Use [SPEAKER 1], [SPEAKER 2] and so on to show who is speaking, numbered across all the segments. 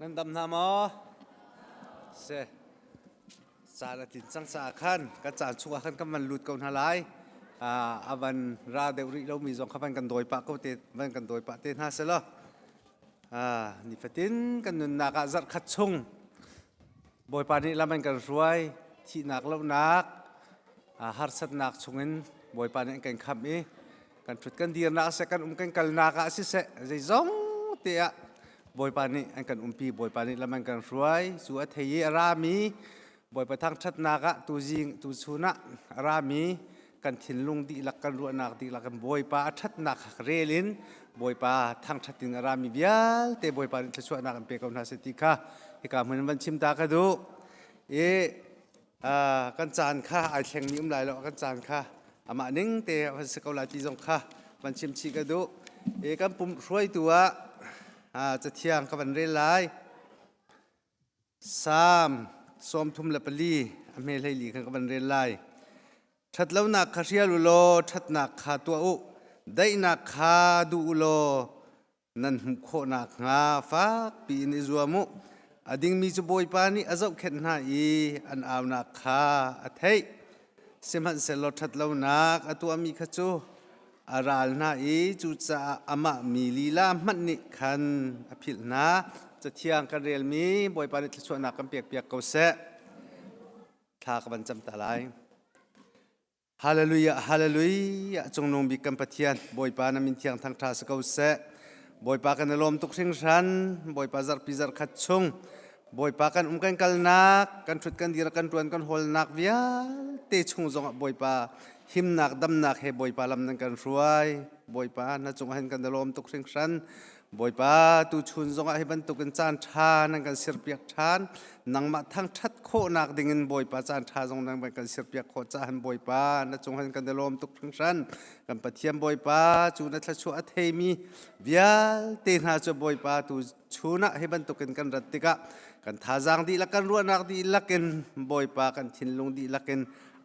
[SPEAKER 1] Nan dam hna maw? Se. Caan a tlin cang caah khan kan caan chungah khan kan van lut ko hna lai. Uh, a van ra deuh rih lomi zong kha van kan dawi pah ko te, van kan dawi pah te hna selaw. nifatin kan nunnak ah zarhkhat chung Bawipa nih lam an kan hruai thihnak lonak harsatnak chungin Bawipa nih an kan khamh i kan ṭhut kan dirnak siseh kan um kan kalnak ah siseh zeizong te ah Bawipa nih an kan umpi Bawipa nih lam an kan hruai cu a thei i a rami Bawipa thangṭhatnak ah tuzing tuchun ah a rami kan thinlung dihlak kan ruahnak dihlak in Bawipa a ṭhatnak kha rel in Bawipa thangṭhat in a rami vialte Bawipa nih thluachuahnak in pe ko hna seh ti kha hika hmun in van chim ta ka duh i uh, kan caan kha ai thleng ni um lai lo kan caan kha amah ning te van si ko lai ti zong kha van chim chi ka duh i kan pum hruaitu ah uh, cathiang ka van rel lai Salm sawmthum le pali a hmehleili kha ka van rel lai. Ṭhatlonak kha hrial u law ṭhatnak kha tuah u. Daihnak kha duh u law nan hmuh khawh nakhnga fak piin i zuam u. A dingmi cu Bawipa nih a zohkhenh hna i an aunak kha a theih. Sihmanhsehlaw ṭhatlonak a tuahmi kha cu a ral hna i cucaah amah mi lila hmanh nih khan a philh hna. Cathiang kan relmi Bawipa nih thluachuahnak kan pekpiak ko seh. Thla ka van cam ta lai. Hallelujah, hallelujah. Cungnung bik kan Pathian, Bawipa na min thiang thangṭha si ko seh. Bawipa kan i lawm tuk hringhran. Bawipa zarhpi zarkhat chung Bawipa kan um kan kalnak, kan hrut kan dir, kan ṭuan kan hawlnak vialte chung zongah Bawipa himnak damnak he Bawipa lam nan kan hruai. Bawipa na cungah hin kan lawm tuk hringhran. Bawipa tuchun zongah hi bantukin caan ṭha nan kan sirpiak ṭhan. Nangmah thangṭhat khawhnak dingin Bawipa caan ṭha zong nan kan sirpiak khawh cahan Bawipa na cungah kan lawm tuk hringhran. Kan Pathian Bawipa cu na thluachuah a theimi vialte hna cu Bawipa tu chun ah hi bantukin kan rat tikah kan thazaang dihlak kan ruahnak dihlak in Bawipa kan thinlung dihlak in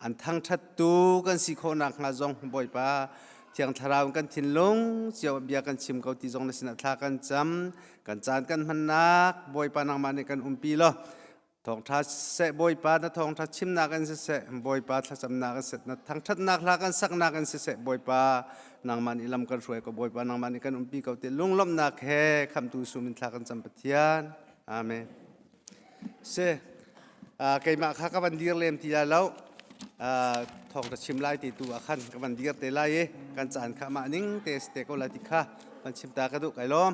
[SPEAKER 1] an thangṭhattu kan si khawhnak hnga zong Bawipa Thiang Thlarau in kan thinlung cio bia kan chim ko ti zong na sinah thla kan cam kan caan kan hmannak Bawipa nangmah nih kan umpi law Thawngṭha seh Bawipa na thawngṭha chimnak in siseh Bawipa thlacamnak in siseh na thangṭhatnak hla kan saknak in siseh Bawipa nangman i lam kan hruai ko Bawipa nangman i kan umpi ko ti lunglawmhnak he khamtu sum in thla kan cam Pathian Amen si uh, keimah kha ka van dir lem ti lai lo uh, thawngṭha chim lai ti tu ah khan ka van dir te lai i kan caan kha mah ning te te ko lai ti kha van chim ta ka duh kai lawm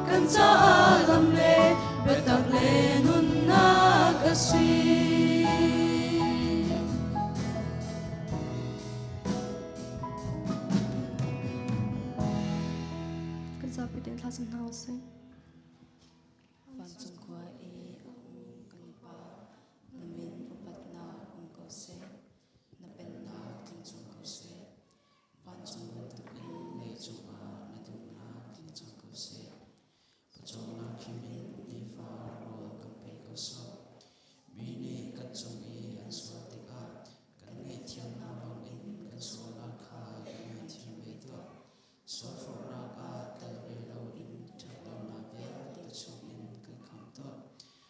[SPEAKER 1] kan caah lam le biatak le nunnak a si. Kan zapi den thla san hna usai. Vancung khua i a hung kan i pa, na min upatnak um ko seh, na pennak tling chung ko seh. Vancung bantuk in mei cungah na duhnak tling cang ko seh. Pawcawmnak khim in nifa rawl kan pe ko sawh. Mi nih kan cung i an sual tikah kan ngaihthiam hna bangin kan sualnak kha i ngaihthiam ve tuah. Sualforhnak ah tel ve loin ṭhat lonak vialte chungin kan kham tuah.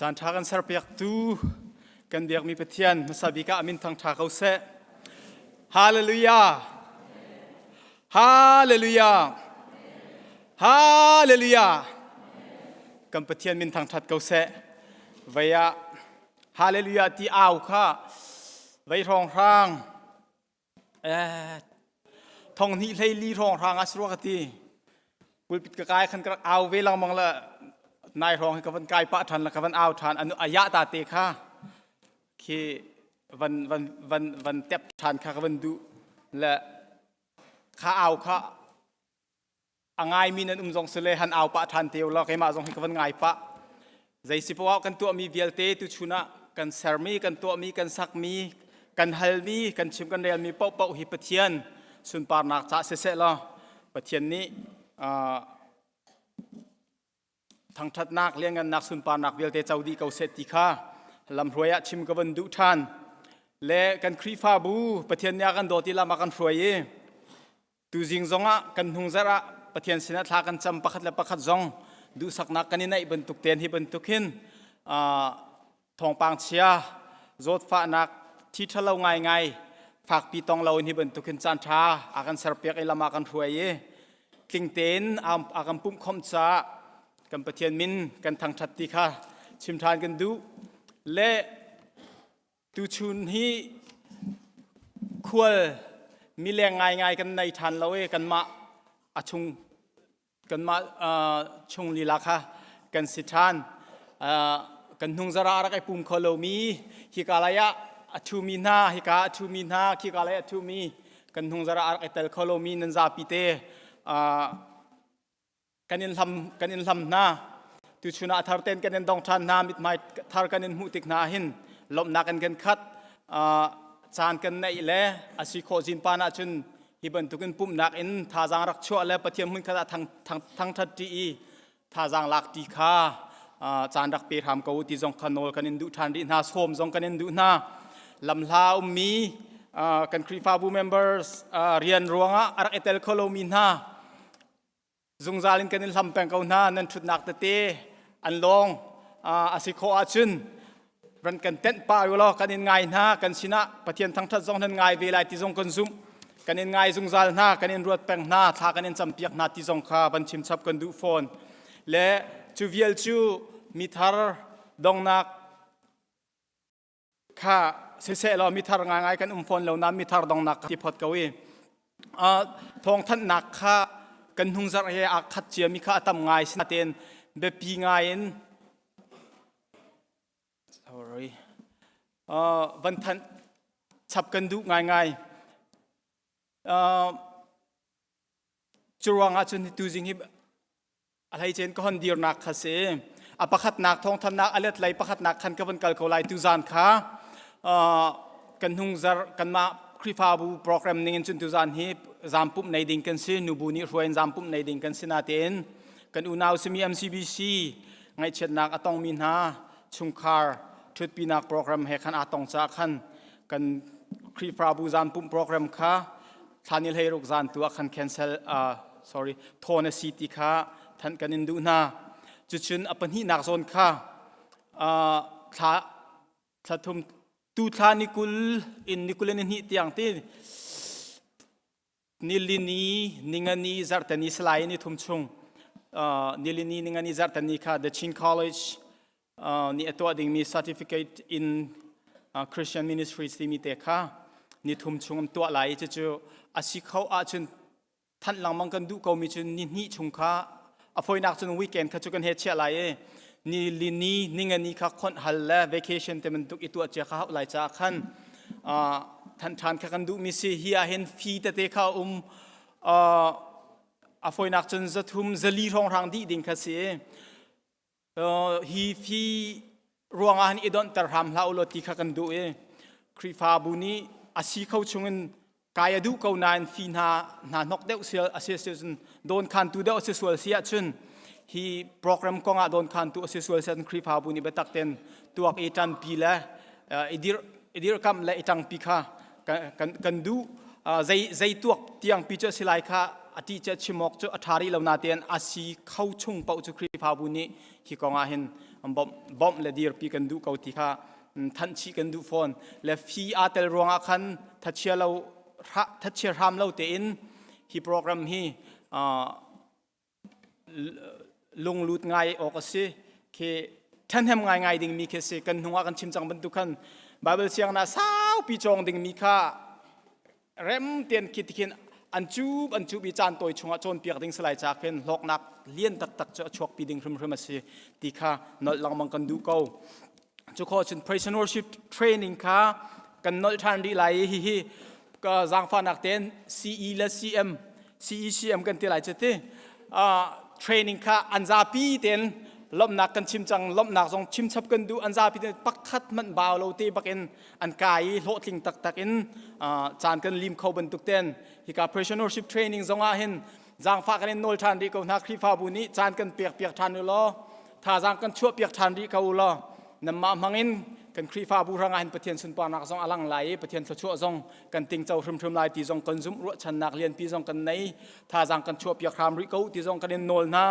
[SPEAKER 1] Caanṭha kan serpiaktu kan biakmi Pathian hmasa bik ah amin thangṭha ko seh. Hallelujah. Hallelujah! Hallelujah! Kan Pathian min thangṭhat ko seh. Vei ah Hallelujah ti au kha vei hrawng hrang eh thong hnih hlei li hrawng hrang as rua ka ti. Pulpit ka kai khan ka rak au ve lengmang la nai hrawng hi ka van kai pah ṭhan la ka van au ṭhan anu ayah ta te kha khi van van van van tep than kha ka van duh le kha au kha a ngai mi nan um zong si le han au pah than te lo keimah zong hi ka van ngai pah zei si poah kan tuah mi vialte tu chun ah kan ser mi kan tuah mi kan sak mi kan hal mi kan chim kan rel mi poh poh hi pathian sunparnak ca se se law pathian nih thangṭhatnak liangngannak sunparnak vialte co dih ko seh ti kha lamhruai ah chim ka vun duh ṭhan le kan Khrihfabu Pathian nih a kan dawt i lam a kan hruai i tuzing zong ah kan hnung zarh ah Pathian sinah thla kan cam pakhat le pakhat zong duhsaknak kan i naih bantuk tein hi bantuk hin thawngpang chia zawtfahnak thi ṭhalo ngaingai fakpi tong lo ni bantukin caan ṭha a kan serpiak i lam ah kan hruai i tling tein a kan pumhkhawmh caah kan Pathian min kan thangṭhat ti kha chim ṭhan kan duh le tuchun hi khual mileng ngaingai kan nei ṭhan lo i kanmah a chung kanmah chung lila kha kan si ṭhan kan hnungzara a rak i pum kho lomi hika lai ah a ṭhumi hna hika a ṭhumi hna khika lai a ṭhumi kan hnungzara a rak i tel kho lomi nan zapi te kan in hlam kan in hlam hna tuchun ah thar ten kan in dong ṭhan hna mithmai thar kan in hmuh tik hna hin lawmhnak in kan khat caan kan neih le a si khawh zin pan ahcun Hi bantukin pumhnak in thazaang rak chuah le Pathian hmunkhat ah thangṭhat ṭi i thazaang lak ṭi kha caan rak pe hram ko u ti zong kha nawl kan in duh ṭhan rih hna sawm zong kan in duh hna lamhla a ummi kan Khrihfabu members rian ruangah a rak i tel kho lomi hna zungzal in kan i hlam peng ko hna nan ṭhutnak tete an lawng a si khawh ahcun ran kan tenh pah u law kan in ngai hna kan sinah pathian thangṭhat zong nan ngai ve lai ti zong kan zumh kan in ngai zungzal hna kan in ruat peng hna thla kan in campiak hna ti zong kha van chimchap kan duh fawn le cu vial cu mi thar donghnak kha siseh law mithar ngaingai kan um fawn lo na mithar dong nak i phot ko i thawngthanhnak kha kan hnungzarh he a khat cia mi kha a tam ngai si natein biapi ngai in sorry van thanh chap kan duh ngaingai curuang ah cun hi tuzing hi a hleicein ka hon dirnak kha si a pakhatnak thawngthannak a let lei pakhatnak khan ka van kal ko lai tu zan kha kan hnungzar kanmah Khrihfabu program ningin cun tu zan hi zampumh nei ding kan si nubu nih hruain zampumh nei ding kan si natein kan unau simi MCBC ngaihchiatnak a tongmi hna chungkhar ṭhutpinak program he khan aa tong ca khan kan Khrihfabu zampumh program kha thlan i hlei ruk zan tu ah khan cancel uh, sorry thawn a si ti kha thanh kan in duh hna cucun a pahnihnak zawn kha uh, thla thla thum tu thla ni kul in ni kul ni hnih tiang ti nilini ningani zartani salai ni thum chung uh, nilini ningani zartani kha the Chin College nih a tuah dingmi certificate in Christian Ministries timi te kha ni thum chung an tuah lai i cucu a si kho ahcun thanh lengmang kan duh komi cu ni hnih chung kha a foinak cun weekend kha cu kan he chiah lai i ni li ni ninga ni kha khonh hal le vacation te bantuk i tuah cia kha hauh lai caah khan thanh ṭhan kha kan duhmi si hi ahhin fee tete kha um a foinak cun zathum zali hrongrang dih ding kha si i hi fi ruangah hin i donhter hram hlah ulaw ti kha kan duh i Khrihfabu nih a si kho chungin kai a duh ko nain fi hna hna hnok deuh si a si cun dawnkhantu deuh a si sual si ahcun hi program kongah dawnkhantu a si sual si ahcun Khrihfabu nih biatak ten tuak i ṭanpi le i dirkamh le i ṭangpi kha kan duh zei zei tuak tiang pi cu a si lai kha ati cu chimok cu a thari lo na tein a si kho chung pauh cu Khrihfabu nih hi kong ah hin bawmh bawmh le dir pi kan duh ko ti kha thanchi kan duh fawn le fi a tel ruang ah khan thachia lo thachia hram lo tein hi program hi lunglut ngai awk a si khi ṭhahnem ngaingai dingmi khi a si kan hnung ah kan chim cang bantuk khan Baibal sianginn ah saupi cawng dingmi kha rem tein khi tikhin an cuub an cuub i caan tawi chungah cawnpiak ding salai ca khin hlawknak lian taktak cu a chuakpi ding hrimhrim a si ti kha nolh lengmang kan duh ko cu kho cun presenorship training kha kan nol ṭhan rih lai i hihi ka zaangfahnak tein CE le CM CECM kan ti lai cu ti training kha an zapi tein lomhnak kan chim cang lomhnak zong chimchap kan duh an zapi tein pakhat manh bau lo te bakin an kai i hlawhtling taktak in caan kan lim kho bantuk ten hika presenorship training zongah hin zangfah kan in nawl ṭhan rih ko hna Khrihfabu nih caan kan pek piak ṭhan u law thazaang kan chuah piak ṭhan rih ko u law nanmah hmangin kan Khrihfabu hrangah hin Pathian sunparnak zong a lang lai i Pathian thluachuah zong kan tingco hrimhrim lai ti zong kan zumh ruahchannak lianpi zong kan nei thazaang kan chuah piak hram rih ko ti zong kan in nawl hna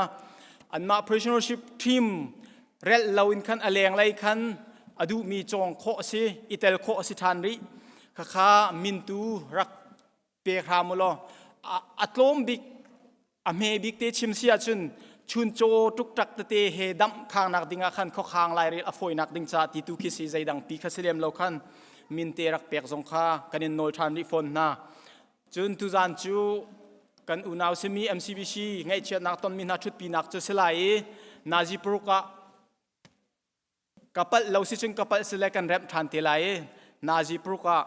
[SPEAKER 1] anmah prisonership team relh loin khan a leng lei khan a duhmi cawng khawh a si i tel khawh a si ṭhan rih khakha mintu rak pe hram u law a tlawm bik a hme bik te chim si ahcun chun caw tuktak tete he damh khangnak ding ah khan khokhang lairel a fawinak ding ca ti tu khi si zeidang pi kha si lem lo khan minte rak pek zong kha kan in nawl ṭhan rih fawn hna cun tuzan cu kan unau simi MCBC ngaihchiatnak tonmi hna ṭhutpinak cu si lai i nazi paruk ah ka palh lo si cun ka palh si le kan remh ṭhan te lai i nazi paruk ah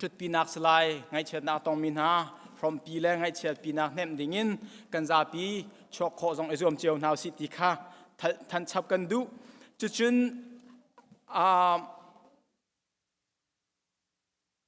[SPEAKER 1] ṭhutpinak si lai ngaihchiatnak a tongmi hna hrawmpi le ngaihchiatpinak hnemh dingin kan zapi chuak khawh zong i zuam cio hna usih ti kha thanchap kan duh cucun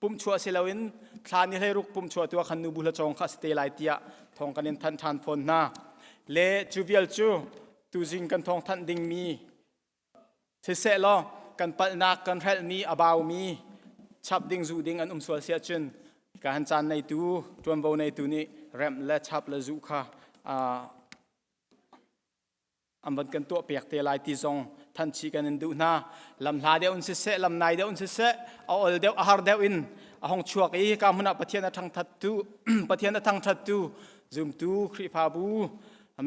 [SPEAKER 1] pumchua si loin thla ni hleiruk pumchua tua khan nubu hla cawng kha si te lai tiah thong kan in thanh ṭhan fawn hna le cu vial cu tuzing kan thong thanh dingmi siseh law kan palhnak kan hrelhmi a baumi chap ding zu ding an um sual sia cun ka han caan neitu ṭuanvo neitu nih remh le chap le zu kha an van kan tuah piak te lai ti zong thanchi kan in duh hna lam hla deuh in siseh lam nai deuh in siseh a ol deuh a har deuh in a hong chuak i ka hmun ah pathian a thangthat tu pathian a thangthat tu zumtu khrifabu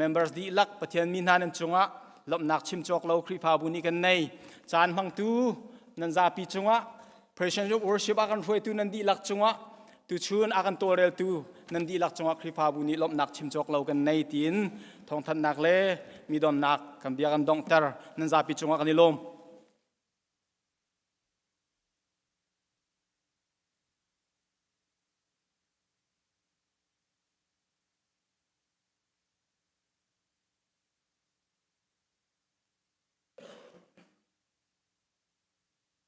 [SPEAKER 1] members dihlak pathian mi hna nan cungah lomhnak chim cawk lo khrifabu nih kan nei caan hmangtu nan zapi cungah Christians of worship a kan hruaitu nan dihlak cungah tuchun a kan tawlreltu nan dihlak cungah Khrihfabu nih lawmhnak chim cawk lo kan nei tiin thawngthanhnak le mi donnak kan bia kan donghter nan zapi cungah kan i lawm.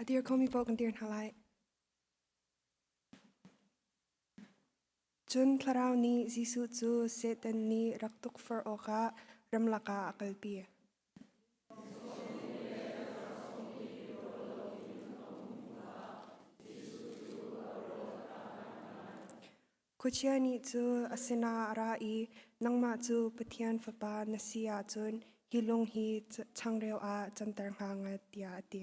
[SPEAKER 1] A dir khomi paoh kan dir hna lai. Cun Thlarau nih Jesuh cu Satan nih rak tukforh awkah ramlak ah a kalpi. Khuachia nih cu a sinah a ra i nangmah cu Pathian Fapa na si ahcun hi lung hi changreu ah canter hna nga tiah a ti.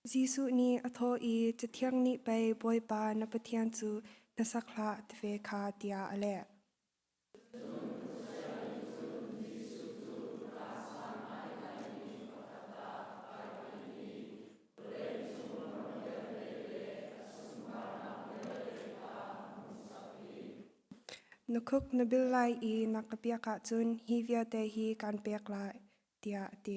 [SPEAKER 1] Jesuh nih a thawh i, Cathiang nih pei Bawipa na Pathian cu na sak hlah ti ve kha tiah a leh. Na khuk na bil lai i na ka piak ahcun hi vialte hi kaan pek lai, tiah a ti.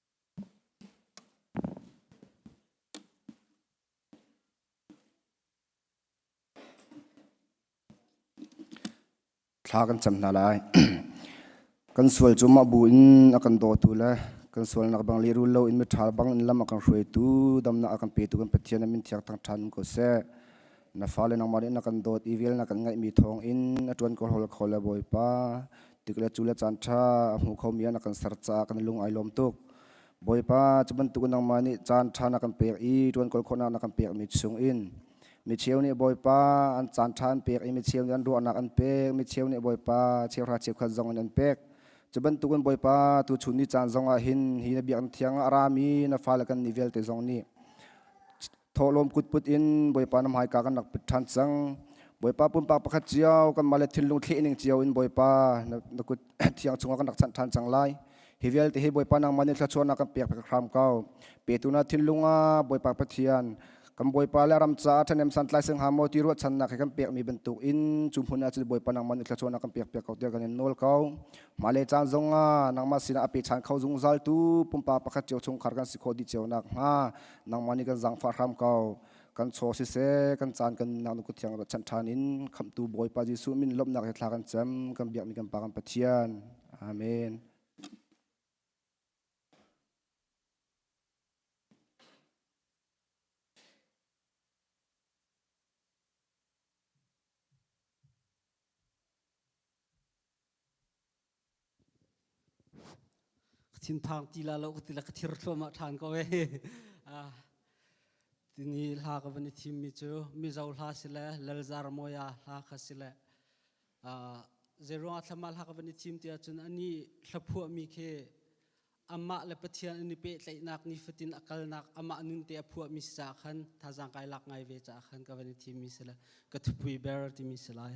[SPEAKER 1] Thla kan cam hna lai. kan sual cu mah bu in a kan dawtu le kan sualnak bang lehrul lo in miṭha bang in lam a kan hruaitu damnak a kan petu kan Pathian a min thiang thang ṭhan ko seh. na fale nangmah nih na kan dawt i vel na kan ngaihmi thawng in na ṭuan ko hol kho le bawipa tik le cu le caan ṭha a hmu khomi ah na kan ser caah kan lung ai lawm tuk bawipa cu bantukin nangmah nih caan ṭha na kan pek i ṭuan kol khawhnak na kan pekmi chung in micheu nih bawipa an caan ṭha an pek i micheu nih an ruahnak an pek micheu nih bawipa cheuhra cheukhat zong in an pek cu bantukin bawipa tu chun ni caan zong ah hin hi na biaknak thiang a rami na fale kan ni vialte zong nih thawhlawm kutput in Bawipa nam haika kan rak pit ṭhan cang. Bawipa pumpak pakhat cio kan mah le thinlung thlehning cio in Bawipa na, na kut thiang chungah kan rak chanh ṭhan cang lai. Hi vialte hi Bawipa nangmah nih thluachuah na kan pek pek hram ko. Petu na thinlung ah Bawipa Pathian kan Bawipa le ram caah ṭhanem santlai sing ha maw ti ruahchannak he kan pekmi bantuk in cu hmun ah cun Bawipa nangmah nih thluachuah na kan pek pek ko tiah kan in nawl ko. Mah le caan zong ah nangmah sinah a pe ṭhan kho zungzal tu pumpak pakhat cio chungkhar kan si khawh dih cio nak hnga nangmah nih kan zangfah hram ko kan chaw siseh kan caan kan nanu ku thiang chan ṭhan in khamtu bawipa jesuh min lomnak he thla kan cam kan biakmi kan pa kan pathian amen Ka thinphang ti la lo ka ti le ka thir thluahmah ṭhan ko ee. Ah, tuni hla ka van i thimmi cu Mizo hla si le Lalzar Mawia hla kha si le ah, zeiruangah thlama hla ka van i thim ti ahcun a nih hlaphuahmi khi amah le Pathian an i pehtlaihnak nifatin a kalnak amah nunte a phuahmi si caah khan thazaang kai lak ngai ve caah khan ka van i thimmi si le ka thupui ber timi si lai.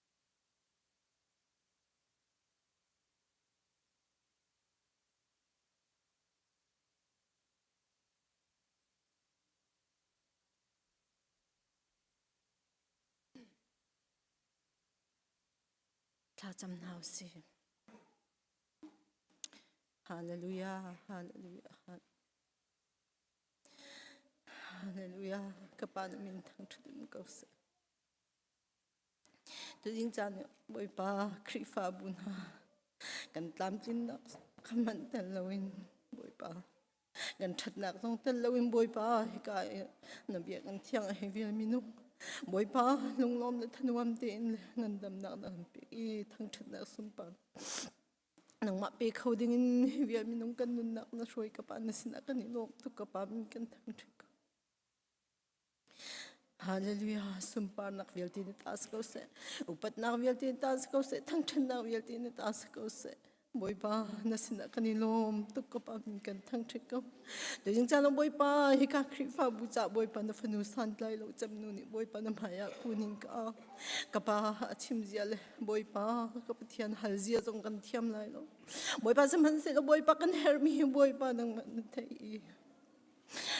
[SPEAKER 1] Thlacam hna u sih. Hallelujah, hallelujah, hallelujah. Ka pa na min thangṭhat in ko seh. Tuzing caan ah Bawipa Khrihfabu hna kan tlamtlinnak kan manh tel loin Bawipa kan ṭhatnak zong tel loin Bawipa hika i na biakinn thiang a hei vel minung Bawipa lunglawm le thanuam tein le ngandamnak na kan pek i thangṭhatnak sunpar nangmah pe kho dingin hi vial minung kan nunnak na hruai ka Pa na sinah kan i lawm tuk ka Pa min kan thangṭhat ko. Hallelujah. Sunparnak vialte nih ta si ko seh. Upatnak vialte nih ta si ko seh. Thangṭhatnak vialte nih ta si ko seh. Bawipa, na sinah kan i lawm tuk ko pa in kan thangṭhat ko. Dingcang Bawipa, hika Khrihfabu ca Bawipa na fanu santlai lo cemnu nih Bawipa na hmaiah khuning ka ka pa a chimzia le Bawipa ka Pathian halzia zong kan thiam lai lo. Bawipa sihmanhsehlaw Bawipa kan herhmi hi Bawipa nang na theih i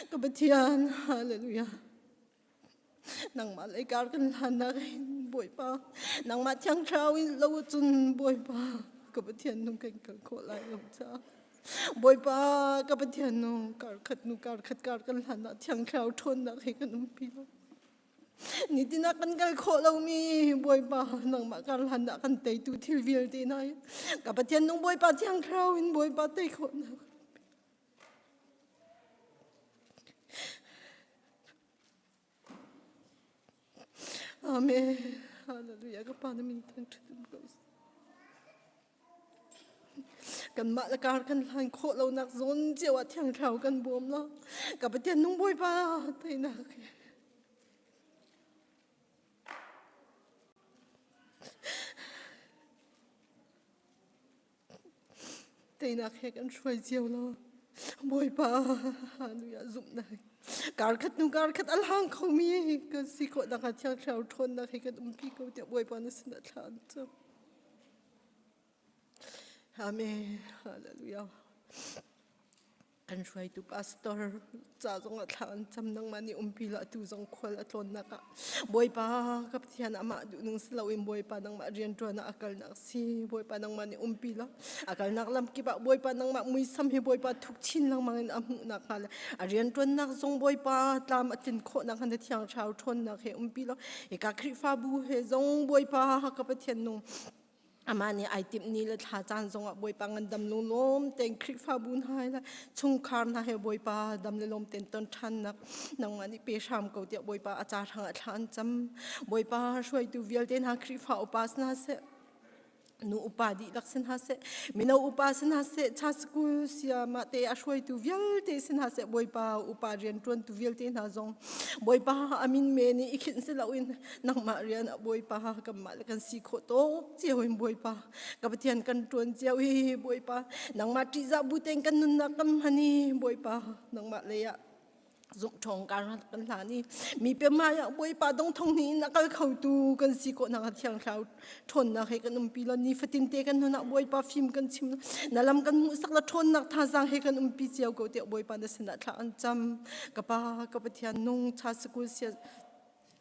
[SPEAKER 1] ka pathian hallelujah nangmah lei kar kan hlannak in bawipa nangmah thiang thlarau in lo cun bawipa ka pathian nung kan kal khawh lai lo ca bawipa ka pathian nung karkhat nu karkhat kar kan hlanah thiang thlarau ṭhawnnak hi kan umpi lo nitina kan kal khawh lomi bawipa nangmah kar hlanah kan teitu thil vialte na ka pathian nung bawipa thiang thlarau in bawipa tei khawhnak Amen. Hallelujah. Ka pa na min thangṭhat um ko. Kanmah le kar kan hlain khawh lonak zawn cio ah thiangthlau kan bawm la. Ka patian nung bawipa teinak. Teinak he kan hruai cio lo. Bawipa nui ah zumhnak. Karkhat hnu karkhat a lang khomi kan si khawh nak ah thiangthlarau ṭhawnnak he kan umpi ko tiah Bawipa na sinah thla an cam. Amen. Hallelujah. An hruaitu pastor ca zong ah thla an cam nang mah nih umpi la tu zong khual a tlawnnak ah Bawipa ka Pathian amah duh ning si loin Bawipa nangmah rianṭuan ah a kalnak si Bawipa nangmah nih umpi la a kalnak lam kip ah Bawipa nangmah muisam hi Bawipa thuk chin lengmang in a hmuhnak hnga le a rianṭuannak zong Bawipa tlam a tlin khawhnak hnga na thiang thlarau ṭhawnnak he umpi la hi ka Khrihfabu he zong Bawipa ka Pathian nung Amah nih ai timh ni le thla caan zongah Bawipa ngan dam lu lawm tein Khrihfabu hna he le chungkhar hna he Bawipa dam le lawm tein ton ṭhannak nangmah nih pe hram ko tiah Bawipa a ca hrangah thla an cam. Bawipa hruaitu vialte hna Khrihfa upa si hna seh nu upa dihlak si hna seh mino upa si hna seh cha school sia mah te a hruaitu vialte si hna seh Bawipa upa rian ṭuantu vialte hna zong Bawipa amin me nih i khinh si loin nangmah rian a bawipa kanmah le kan si khawh to cio in bawipa ka pathian kan tuan cio hi bawipa nangmah ṭihzah bu tein kan nunnak kam hani bawipa nangmah lei ah zuk thong ka kan hlan i mi pe ma ya boipa dong thong ni na kal kho tu kan si ko na thiang thlau thon na he kan um pi lo ni fatin te kan nuna boipa phim kan chim na lam kan mu sak la thon nak tha sang he kan um pi chiao ko te boipa na sena thla an cham ka pa ka pathian nung cha school sia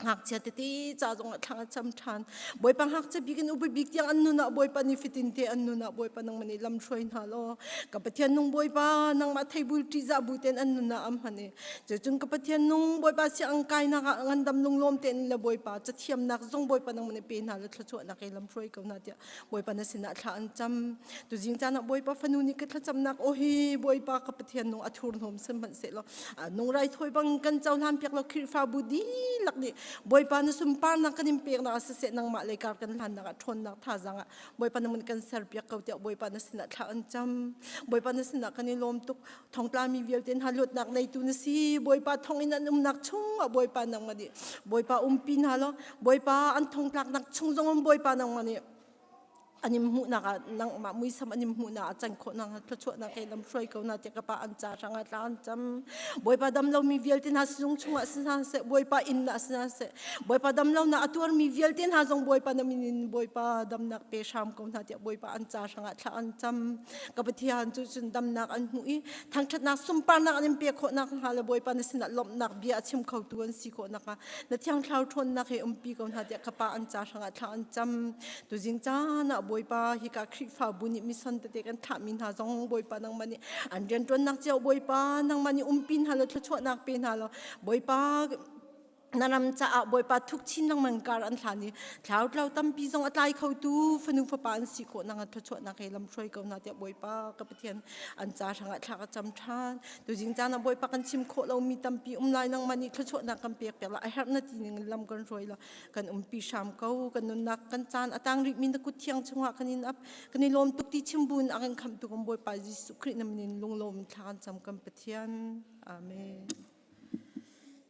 [SPEAKER 1] ngakchia tete cha zong thlang cham than boipa ngakchia bikin ubi bik tiang an nuna boipa ni fitin te an nuna boipa nang mani lam shroi na lo ka pathian nung boipa nang ma theibul ti za bu ten an nuna am hane chu chung ka pathian nung boipa si ang kai na ngandam lung lom ten la boipa cha thiam nak zong boipa nang mani pe na la thlo chu na ke lam shroi ko na tia Bawipa na sinah thla an cam. Tu jing caan ah Bawipa fanu nih ka thlacamnak o hi Bawipa ka Pathian nung a thur hnawm sim hmanh se law nung rai thawi bang kan co hlan piak lo Khirhfabu dihlak nih Bawipa na sumparnak kan in peknak ah siseh nangmah le kar kan hlannak ah ṭhawnnak thazang ah Bawipa namun kan ser piak ko tiah Bawipa na sinah thla an cam. Bawipa na sinah kan i lawm tuk. thongtlami vialte hna luatnak neitu na si bawipa thongin an umnak chung ah bawipa nangmah nih bawipa umpi hna law bawipa an thongtlaknak chung zong bawipa nangmah nih anim hmuhnak ah nangmah muisam anim hmuhnak ah can khawhnak thlachuahnak he lam hruai ko na tiah ka pa an ca hrang ah tla an cam bawipa damlomi vialte hna sinung chungah si hna seh bawipa inn ah si hna seh bawipa damlo na a tuarmi vialte hna zong bawipa na min in bawipa damnak pe hram ko hna tiah bawipa an ca hrang ah thla an cam ka pathian cu cun damnak an hmuh i thangṭhatnak sunparnak an in pek khawhnak hnga le bawipa na sinah lawmhnak bia a chim khotu an si khawhnak hnga na thiangthlau ṭhawnnak he umpi ko hna tiah ka pa an ca hrangah thla an cam tuzing caan ah bawipa hika khrihfabu nih mission tete kan thlahmi hna zong bawipa nangmah nih an rian ṭuannak cio bawipa nangmah nih umpi hna law thluachuahnak pe hna law bawipa na ram caah bawipa thuk chin lengmang kar an hlan i thlau tlau tampi zong a tlai kho tu fanu fapa an si khawh nang at phachuah nak he lam hruai ko na tiah bawipa ka pathian an ca hrangah thla ka cam than tu jing cana bawipa kan chim khawh lo mi tampi um lai nang mani phachuah nak kan pek pela a herh na ti ning lam kan hruai la kan um pi sham ko kan nun nak kan chan atang ri min ku thiang chunga kan in up kan in lom tuk ti chimbun akan kham tu kan bawipa Jesuh Christ namin lung lom thla kan cham kan pathian amen